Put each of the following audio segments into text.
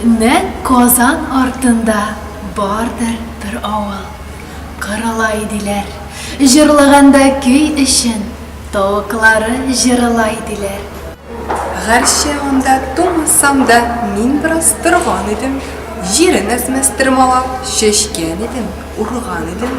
Нәк Казан артында бардыр бер авыл. Кырыла иделәр. Җырлаганда көй өчен тавыклары җырыла иделәр. Гәрчә анда тумасам да, мин бераз торган идем. Җирен әзмәс тырмалап, чәчкән идем, урган идем.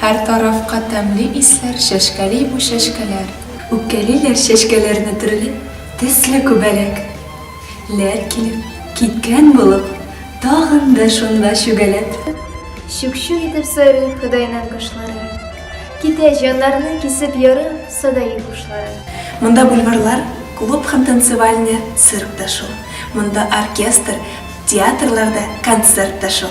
Һәр тарафка тәмле исләр чәчкәли бу чәчкәләр. Үпкәлиләр чәчкәләрне төрле төсле күбәләк. Ләр килеп, киткән булып, тагын да шунда чүгәләп. Чүк-чүк итеп сайрый Ходайның кошлары. Китә җаннарны кисеп ярып садаи хушлары. Монда бульварлар, клуб һәм танцевальный цирк та шул. Монда оркестр, Театрларда концерт та шул.